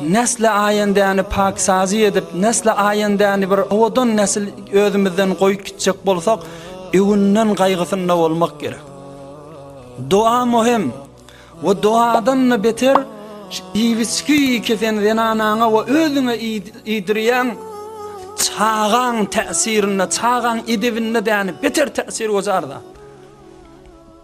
Nesli aýendäni paksazy edip, nesli aýendäni bir owadan nesil özümizden goýup gitjek bolsak, öwünden gaýgysynda bolmak gerek. Doga möhüm we dogadan-da beter iwiçgi kesen zenanaňa we özüňe iýdirýän çagaň täsirinde, çagaň edebinde däni beter täsir gojar zat.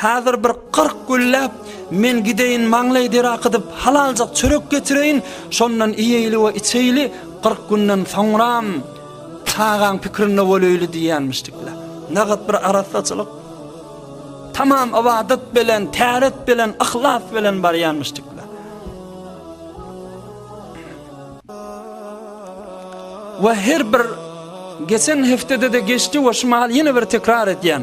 Häzir bir kyrk gülläp, men gideýin maňlaý der akydyp, halaljyk çörek getireýin, şondan iýeýli we içeýli, kyrk günden soňram çagaň pikirinde boleýli diýýänmişdikler. Nähak bir arassaçylyk. Tamam ybadat bilen, täret bilen, yhlas bilen barýanmyşdyklar. We her bir geçen heftede de geçdi we şu mahal ýene bir tekrar edýän.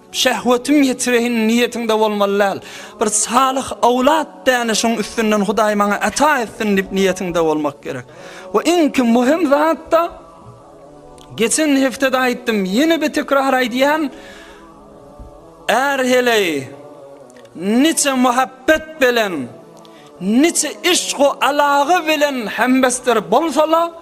Şehwetim ýetireýin niýetiňde bolmaly däl. Bir salyh owlat däne şoň üstünden Hudaý maňa ata etsin diýip niýetiňde bolmak gerek. We iňki möhüm zatda geçen hepdede aýtdym, ýene bir tekrar aýdýan är heleý niçe muhabbet bilen niçe işq we alaga bilen hembesdir bolsala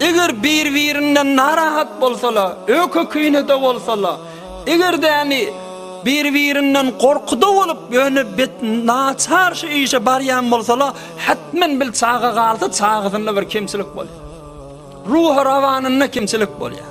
Eger bir-birinden narahat bolsala, öýke-küýnede bolsala, eger-däni bir-birinden gorkuda bolup, ýöne bet naçar şu işe barýan bolsala, hetmen bil çaga galsa, çagasynda bir kemçilik bolýar. Ruhy-rawanynda kemçilik bolýar.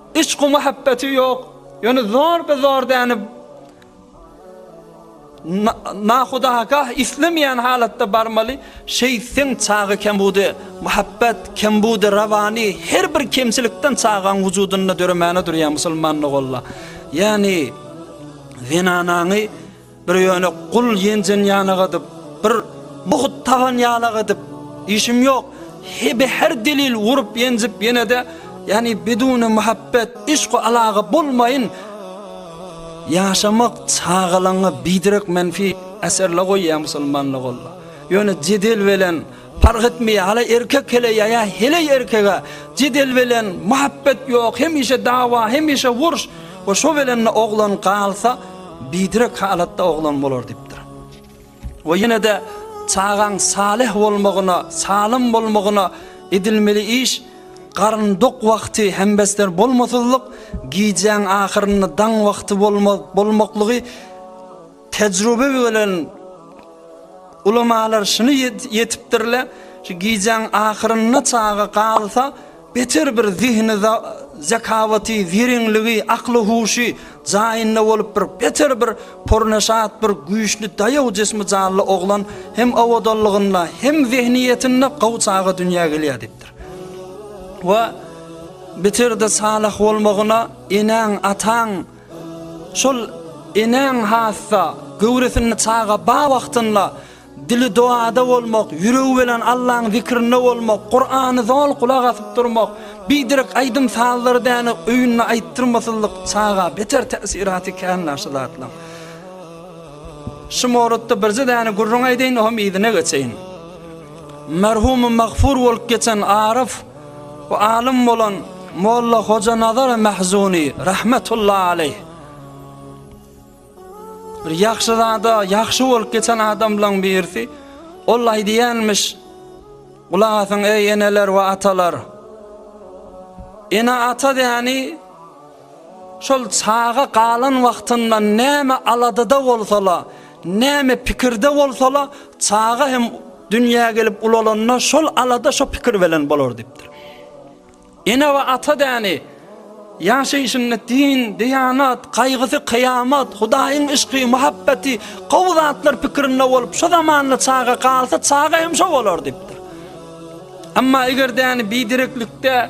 Yşku-muhabbeti ýok, ýöne zor-be-zor dänip, nahudagah islemeýän halatda barmaly, şeýtseň çaga kem budy, muhabbet kem budy, rawany her bir kemçilikden çagaň wujudynda döremäne durýar musulman ogolla. Ýagny zenanaňy Bir ýöne gul ýenjen ýanak edip, bir buhut tagan ýanak edip, işim ýok, hebe her delil urup ýenjip ýene-de, ýani bidune muhabbet, yşku alaga bolmaýyn ýaşamak çagalaňňa biderek menfi äserle goýýar musulmanlyk olla. Ýöne jedel belen Parh etmeýär hala erkek hele ýaýa heleý erkege jedel belen muhabbet ýok hemişe dawa hemişe wurş we şo belende oglan galsa bidirek halatda oglan bolar dipdir. We ýenede çagaň saleh bolmagyna salym bolmagyna edilmeli iş garyn dok wagty hembesler bolmasyzlyk gijäň ahyrynda daň wagty bolma bolmaklygy Tejrübe bilen ulamalar şuny ýetipdirler, şu gijäň ahyrynda çaga galsa, beter bir zihni zakawaty, zerenligi, akly huşy jaýynda bolup bir beter bir pornaşat bir güýçli daýaw jismi janly oglan hem awadanlygynda hem zehniýetinde gowy çaga dünýä gelýär diýipdir. We biterde salah bolmagyna enäň, ataň, Şol enäň hassa, göwresinde çaga bar wagtynda dili doada bolmak, ýüregi bilen Allaň zikrinde bolmak, Kurany zol gulak asyp durmak, biderek aýdym-sazlary däne öýünde aýtdyrmasyzlyk çaga beter täsiraty känlär şu zatlaň. Şu mowlutda birje däne gürrüň aýdaýyn, oňam yzyna geçeýin. Merhumym magfur bolup geçen Aryf, Bu alym bolan Molla Hojanazar Mahzuny rahmetullahi aleyh. Bir ýagşy zada, ýagşy bolup geçen adamlaryň birisi ol aýdýanmyş. Gulak asyň eý eneler we atalar. Ene ata däni Şol çaga galan wagtynda näme aladada bolsa-la, näme pikirde bolsa-la, çaga hem dünýä gelip ulalanda şol alada, şo pikir belen bolar diýipdir. Ene we ata däni ýaşaýşynda din, diýanat, gaýgysy, kyýamat, Hudaýyň yşky, muhabbeti, gowy zatlar pikirinde bolup, şo zamanda çaga galsa, çaga hem şo bolar diýipdir. Emma eger däni bidereklikde,